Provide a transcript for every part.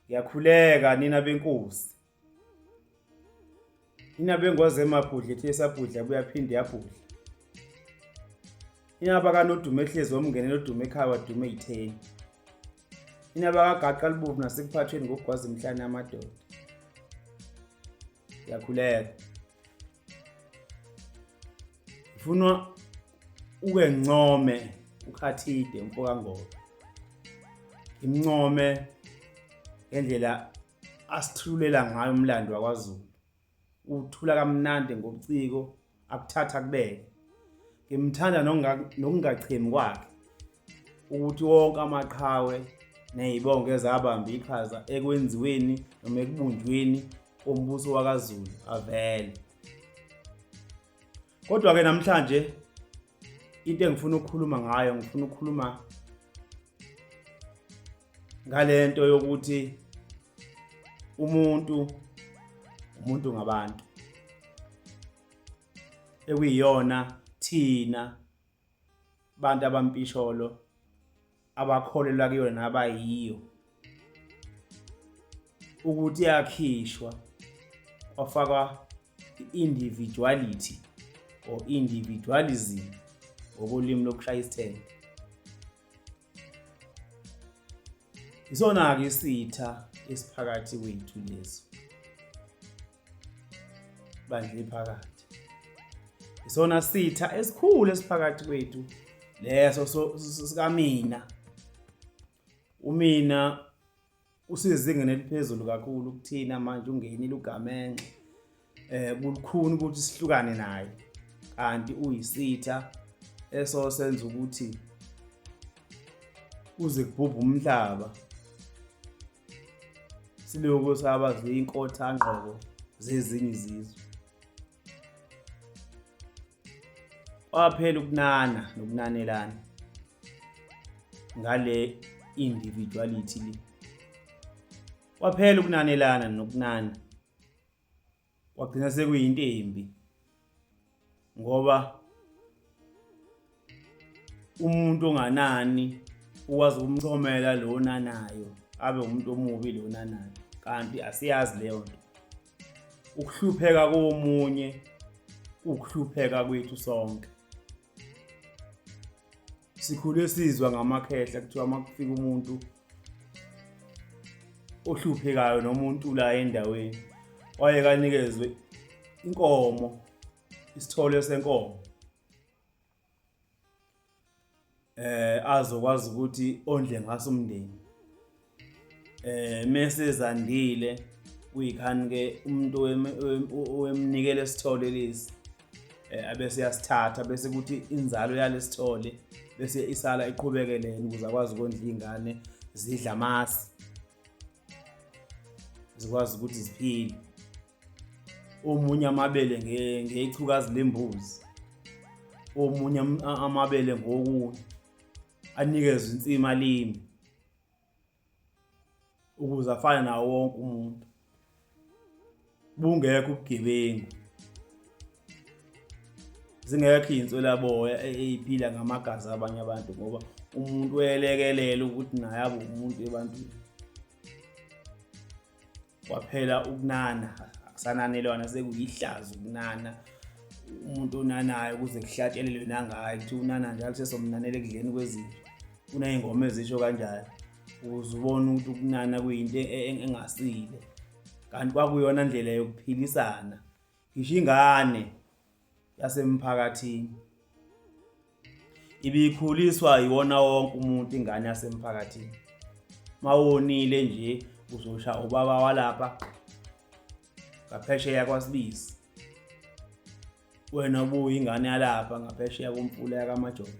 Yakhuleka nina benkosi. Inaba engwazi emabhudla ethi esabhudla buyaphinde yabhudla. Inaba kanodumo ehlezi wamngenela odumo ekhaya wadume itheni. Inaba kagaqa libovu nasekuphathweni ngokugwaza emhlane amadoda. Yakhuleka. Ifunwa uke ncome ukhathide mfoka ngoba. Imncome ngendlela asithululela ngayo umlando wakwaZulu uthula kamnandi ngobuciko akuthatha kubeke ngimthanda nokungachemi kwakhe ukuthi wonke amaqhawe nezibongo ezabamba iqhaza ekwenziweni noma ekubunjweni kombuso wakaZulu avele kodwa ke namhlanje into engifuna ukukhuluma ngayo ngifuna ukukhuluma ngalento yokuthi umuntu umuntu ngabantu ekuyiyona thina bantu abampisholo abakholelwa kuyona nabayiyo ukuthi yakhishwa kwafakwa i-individuality or individualism ngokolimi lokushaya isithende isona-ke isitha esiphakathi kwethu leso bandla ephakathi isona sitha esikhulu esiphakathi kwethu leso sikamina umina usezingeni eliphezulu kakhulu kuthina manje ungenile ugamenxe eh kulukhuni ukuthi sihlukane naye kanti uyisitha eso senza ukuthi uze kubhubha umhlaba silokhu saba ziyinkotha ngqoko zezinye izizwe kwaphela ukunana nokunanelana ngale individuality le kwaphela ukunanelana nokunana kwagcina sekuyinto embi ngoba umuntu onganani ukwazi ukumchomela lo onanayo abe umuntu omubi lo onanayo kanti asiyazi leyo nto ukuhlupheka komunye ukuhlupheka kwethu sonke sikhule sizwa ngamakhehla kuthiwa uma kufika umuntu ohluphekayo noma untula endaweni waye kanikezwe inkomo isithole senkomo eh azokwazi ukuthi ondle ngaso umndeni eh mese zandile kuyikhani ke umuntu owemnikele sithole lesi eh, abese yasithatha bese kuthi inzalo yalesithole bese isala iqhubekelene ukuze akwazi ukondla ingane zidla amasi zikwazi ukuthi ziphile omunye amabele ngeyichukazi lembuzi omunye amabele ngokunye anikezwe insima limi ukuze afane nawo wonke umuntu bungekho ubugebengu zingekho iy'nswelaboya eyiphila ngamagazi abanye abantu ngoba umuntu welekelela ukuthi naye abe umuntu ebantwini kwaphela ukunana akusananelwana sekuyihlazo ukunana umuntu onanayo ukuze kuhlatshelelwe nangayo kuthiwa unana njalo sesomnanela ekudleni kwezinto kuney'ngoma ezisho kanjalo ukuze ubone ukuthi ukunana kuyinto e-, e-, engasile kanti kwakuyona ndlela yokuphilisana ngisho ingane yasemphakathini ibikhuliswa yiwona wonke umuntu ingane yasemphakathini mawonile nje uzosha ubaba walapha ngaphesheya kwasibisi wena ubuyingane yalapha ngaphesheya komfula yakamajoni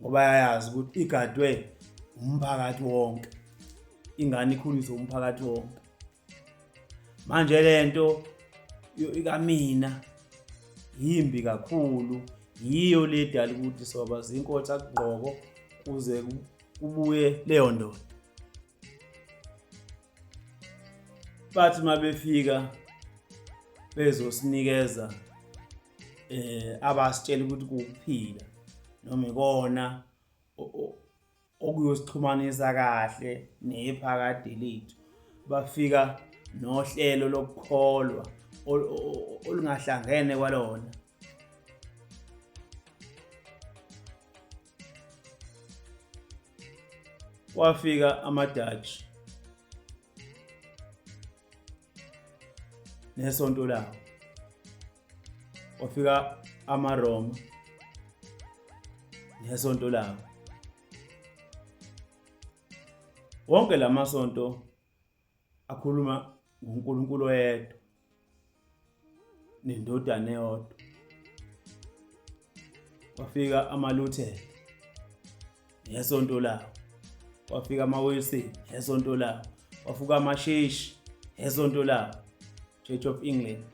ngoba yayazi ukuthi igadwe umphakathi wonke ingane ikhuliswe umphakathi wonke manje lento ikamina yimbi kakhulu yiyo le dala ukuthi soba zinkotha kugqoko kuze kubuye leyo ndoda bathi mabefika bezosinikeza eh abasitshela ukuthi kuphila noma ikona okuyosixhumanisa kahle nephakade lethu bafika nohlelo lokukholwa olungahlangene kwalona kwafika amadutch nesonto lawo wafika amaroma nesonto lawo wonke lamasonto akhuluma ngoNkulunkulu oyedwa nendodana eyodwa kwafika amaluthela ngesonto lawo kwafika amawilson ngesonto lawo kwafuka amasheshi ngesonto lawo church of england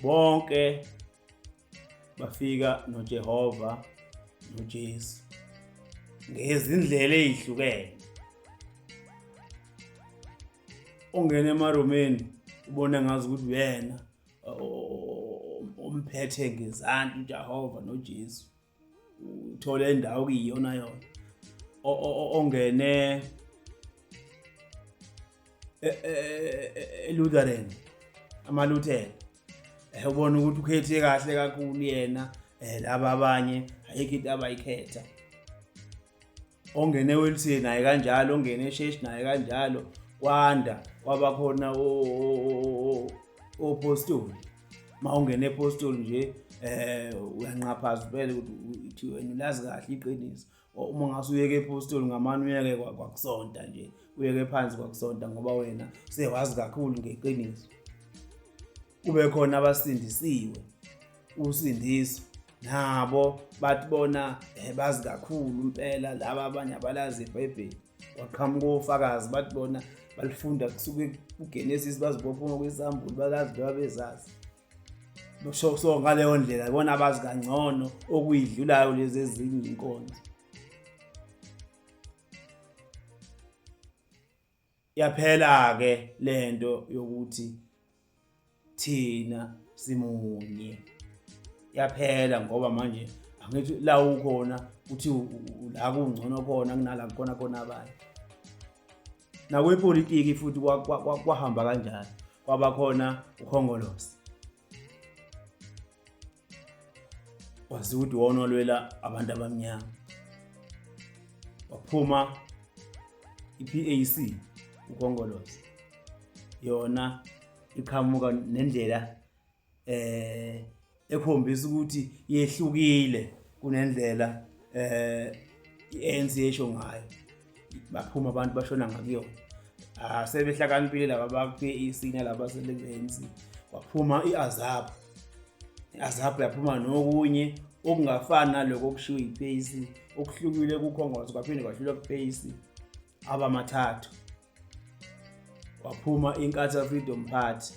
bonke bafika noJehova noJesu ngezindlela ezihlukene ongena emaromeni ubona ngazi ukuthi uyena umphethe ngezandla uJehova noJesu uthole indawo kuyiyona yona ongene e, e, e, eLutheran amaLuthela eh ubona ukuthi ukhethe kahle kakhulu yena eh laba abanye ayikho into abayikhetha ongene ewelisiye naye kanjalo ongene esheshi naye kanjalo kwanda kwaba khona opostoli ma ungene epostoli nje eh uyanqaphaza vele ukuthi wena ulazi kahle iqiniso uma ngase uyeke epostoli ngamane uyeke kwakusonta nje uyeke phansi kwakusonta ngoba wena sewazi kakhulu ngeqiniso kube khona abasindisiwe usindiso nabo bathi bona eh, bazi kakhulu impela laba abanye abalazi ibhayibheli waqhamuka ofakazi bathi bona balifunda kusuke kugenesis bazibophuma kwisambulu bakazi loba bezazi so, so ngaleyo ndlela ibona abazi kangcono okuyidlulayo lezi ezinye inkonzo Yaphela-ke le nto yokuthi thina simunye. Yaphela ngoba manje angithi la ukhona uthi la kungcono khona kunala kukhona khona abanye. Nakwepolitiki futhi kwahamba kanjalo, kwaba khona uKhongolose. wazi ukuthi wona olwela abantu abamnyama waphuma i-PAC uKhongolose yona iqhamuka nendlela eh ekhombisa ukuthi yehlukile kunendlela eh iANC esho ngayo baphuma abantu bashona ngakuyona ah sebehlakaniphile laba bakwe isina laba selengenzi waphuma iazab iazab yaphuma nokunye okungafani naloko okushiwo yipace okuhlukile kukhongozo kwaphinde kwahlulwa kupace abamathathu waphuma inkatha freedom party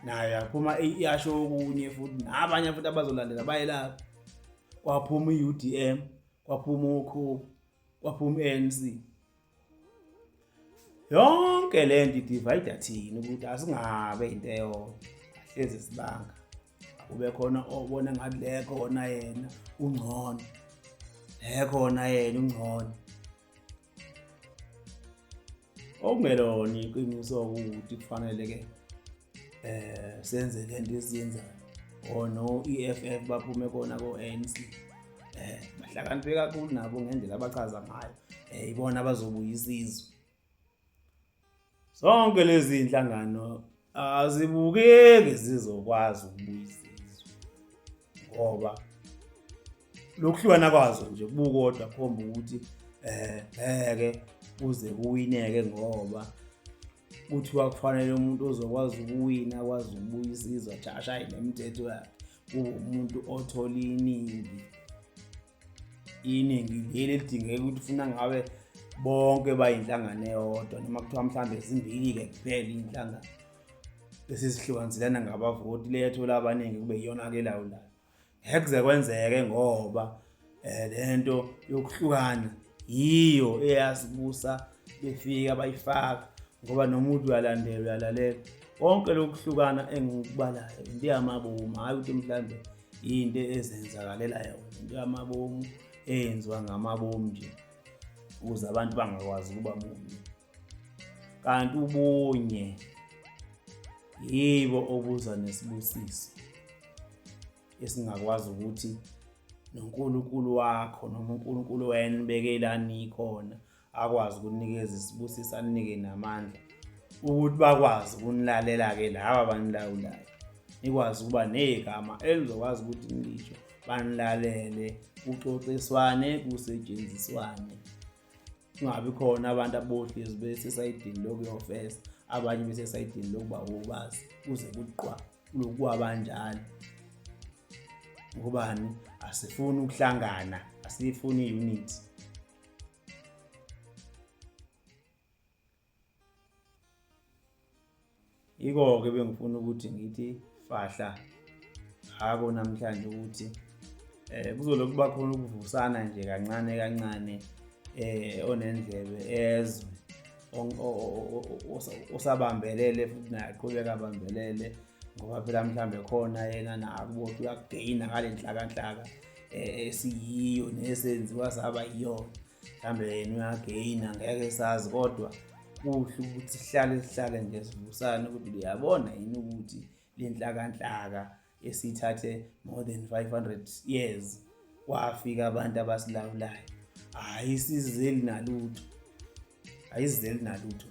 nayo yaphuma iyasho okunye futhi nabanye futhi abazolandela bayelapha kwaphuma i-udm kwaphuma ukhubu kwaphuma ANC yonke le nto idivide thina ukuthi asingabe into eyodwa hlezi sibanga kube khona obona ngathi le khona yena ungcono le khona yena ungcono okungelona iqiniso ukuthi kufanele ke eh senze lento esiyenzayo or no EFF baphume kona ko ANC eh bahlakaniphe kakhulu nabo ngendlela abachaza ngayo eh ibona abazobuya isizwe zonke lezi inhlangano azibukeki zizokwazi ukubuyisa izwe ngoba lokuhlukana kwazo nje kubukodwa khomba ukuthi eh ngeke kuze kuwineke ngoba kuthiwa kufanele umuntu ozokwazi ukuwina akwazi ukubuyisa izwa jasha ayinemithetho yakhe uwumuntu othola iningi iningi leli elidingeka ukuthi funa ngabe bonke bayinhlangano eyodwa noma kuthiwa mhlawumbe zimbili-ke kuphela iy'nhlangano bese zihlukanzelana ngabavoti le yathola abaningi kube iyona-ke elawulayo ngeke kuze kwenzeke ngoba um le nto yokuhlukana yiyo eyasibusa befika bayifaka ngoba noma uthi uyalandela uyalalela konke lokuhlukana engikubalayo into yamaboma hhayi ukuthi mhlawumbe into ezenzakalela yona into yamabomu eyenziwa ngamabomu nje ukuze abantu bangakwazi ukuba munye kanti ubunye yibo obuza nesibusiso esingakwazi ukuthi noNkulunkulu wakho noma uNkulunkulu wena ubekela nikhona akwazi ukunikeza isibusiso anike namandla ukuthi bakwazi ukunilalela-ke laba abanilawulayo nikwazi ukuba negama elizokwazi ukuthi nilisho banilalele kuxoxiswane kusetshenziswane kungabi khona abantu abohlezi besesayidini lokuyofesa abanye besesayidini lokuba wobazi kuze kuqwa lokuwa banjalo ngobani asifuni ukuhlangana asiyifuni i-unity Yiko-ke bengifuna ukuthi ngithi fahla ngako namhlanje ukuthi eh kuzolokhu kuba khona ukuvusana nje kancane kancane eh onendlebe ezwe osabambelele futhi naye aqhubeka abambelele ngoba phela mhlawumbe khona yena nakubothi uyageyina ngale nhlakanhlaka eh, esiyiyo nesenziwa saba yiyona mhlawumbe yena uyageyina ngeke sazi kodwa kuhle ukuthi sihlale sihlale nje sivusane ukuthi liyabona yini ukuthi le nhlakanhlaka esithathe more than 500 years kwafika abantu abasilawulayo hhayi sizeli nalutho ayizeli nalutho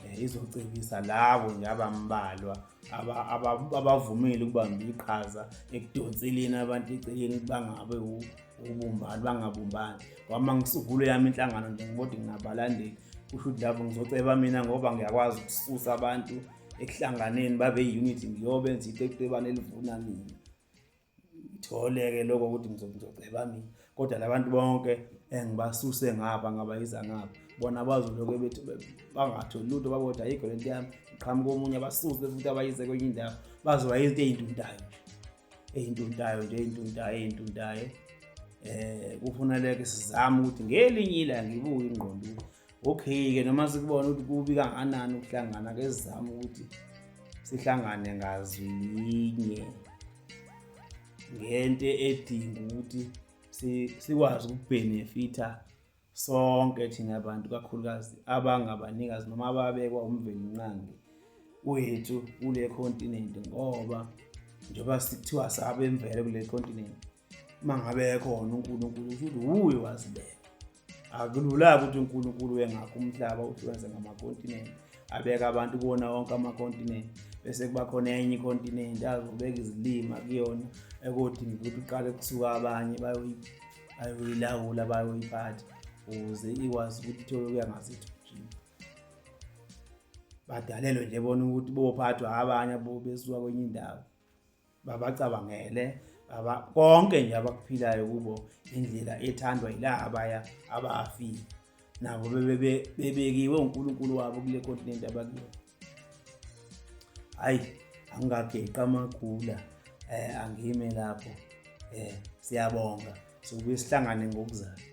eh, izocebisa labo nje abambalwa abavumile ukubamba iqhaza ekudonseleni abantu eceleni bangabe ubumbani bangabumbani kwama ngisukulo yami inhlangano nje ngibode nginabalandeli kusho ukuthi lapho ngizoceba mina ngoba ngiyakwazi ukususa abantu ekuhlanganeni babe yi-unity ngiyobenza itekutebane elivuna mina ngithole-ke lokho ukuthi ngizogceba mina kodwa labantu bonke engibasuse ngapha ngabayisa ngapha bona bazoloke bethi bangatholi lutho baboda ayikho le nto yami ngiqhamuka omunye abasuse futhi abayise kwenye indawo bazoba izinto ey'nduntayo ey'nduntayo nje ey'nduntayo ey'nduntayo um eh, kufuneleke sizame ukuthi ngelinye ilanga ibuye ingqondo okay-ke noma sikubona ukuthi kubi kanganani ukuhlangana ke sizame ukuthi sihlangane ngazwi linye ngento edinga ukuthi sikwazi ukubhenefitha sonke thina bantu kakhulukazi abangabanikazi noma ababekwa umvelinqangi wethu kule continent ngoba njengoba sikuthiwa sabemvele kule continent uma ngabe khona unkulunkulu usho ukuthi wuye wazibeka akulula-ke ukuthi unkulunkulu wengakho umhlaba uthi wenze ngamakontinenti abeka abantu kuwona wonke amakontinenti bese kuba khona enye ikontinenti azobeka izilima kuyona ekodinga ukuthi uqale kusuka abanye bayoyilawula bayoyiphatha ukuze ikwazi ukuthi ithole ukuya ngasethu badalelwe nje bona ukuthi bophathwa abanye besuka kwenye indawo babacabangele aba konke nje abakuphilayo kubo indlela ethandwa yila abaya abafile nabo bebekiwe uNkulunkulu wabo kule continent abakiyo hayi angageqa amagula eh angime lapho eh siyabonga sokubuye sihlangane ngokuzayo